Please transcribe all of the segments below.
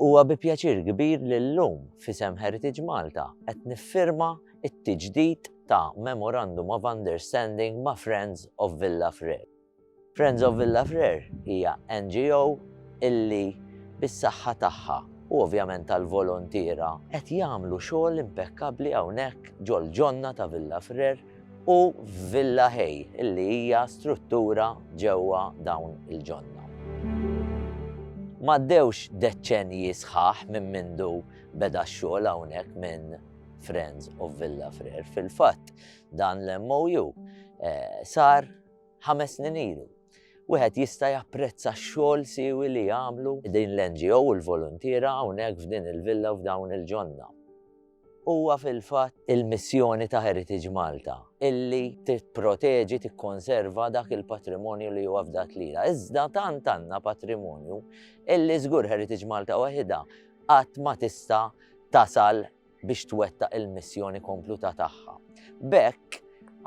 Huwa bi pjaċir kbir li llum f'isem Heritage Malta qed niffirma t-tiġdid ta' Memorandum of Understanding ma' Friends of Villa Frere. Friends of Villa Frere hija NGO illi bis-saħħa tagħha u ovvjament tal-voluntiera qed jagħmlu xogħol impekkabbli hawnhekk ġol-ġonna ta' Villa Frere u Villa Hay illi hija struttura ġewwa dawn il-ġonna. M'għaddewx deċċenji sħaħ minn mindu beda x-xogħol hawnhekk minn Friends of Villa Frer. Fil-fatt dan l-MOU eh, sar ħames snin ilu. Wieħed jista' japprezza x-xogħol siwi li jagħmlu din l-NGO u l-voluntiera hawnhekk f'din il-villa f'dawn il-ġonna. Huwa fil-fatt il-missjoni ta' Heritage Malta illi tipproteġi, tikkonserva dak il-patrimonju li huwa fdat lilha. Iżda tant għandna patrimonju illi żgur Heritage Malta waħidha qatt ma tista' tasal biex twettaq il-missjoni kompluta tagħha. B'hekk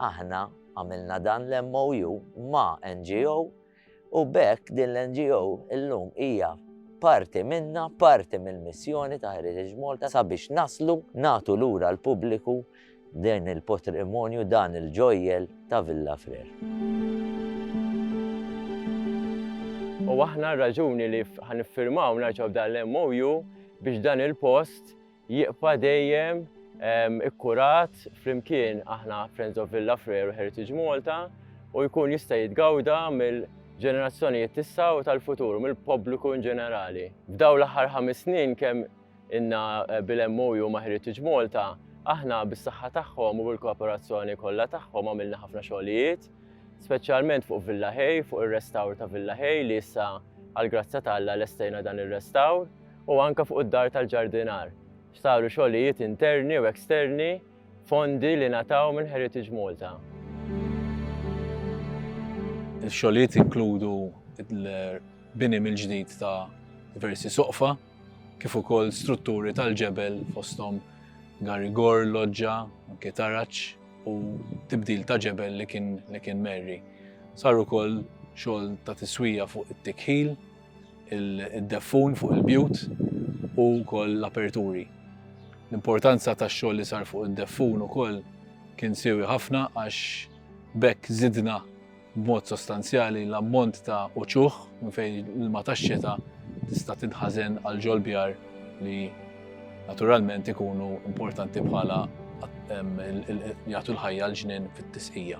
aħna għamilna dan l-MOU ma' NGO U b'hekk din l-NGO illum hija parti minna, parti mill-missjoni ta' Heritage Malta sabiex naslu nagħtu lura l-pubbliku din il-potrimonju dan il-ġojjel ta' Villa Frere. U aħna r-raġuni li ħa niffirmaw nerġgħu b'dan l-MOU biex dan il-post Jibqa' dejjem ikkurat flimkien aħna Friends of Villa Freru Heritage Malta u jkun jista' jitgawda mill ġenerazzjonijiet tissa u tal-futur u mill-pubbliku in ġenerali. F'daw l-aħħar ħames snin kemm inna eh, bil-MOU ma' Heritage Malta, aħna bis-saħħa tagħhom u bil-kooperazzjoni kollha tagħhom għamilna ħafna xogħlijiet, speċjalment fuq Villa Hay, fuq ir-restawr ta' Villa Hay li issa għal grazza ta' Alla lestejna dan ir-restawr. u anke fuq id-dar tal-ġardinar, x'saru xogħlijiet interni u eksterni, fondi li ngħataw minn Heritage Malta. Ix-xogħlijiet jinkludu l-bini mill-ġdid ta' diversi soqfa, kif ukoll strutturi tal-ġebel fosthom garigor, loġġa, anke taraġ u tibdil ta' ġebel li kien merri. Sar ukoll xogħol ta' tiswija fuq it-tikħil, id-deffun fuq il-bjut u wkoll l-aperturi. L-importanza tax-xogħol li sar fuq id-deffun ukoll kien siewi ħafna għax b'hekk żidna b'mod sostanzjali l-ammont ta' uċuħ minn fejn l-ilma tax-xita tista' tinħażen għal ġol-bjar li naturalment ikunu importanti bħala jagħtu l-ħajja l-ġnien fit-tisqija.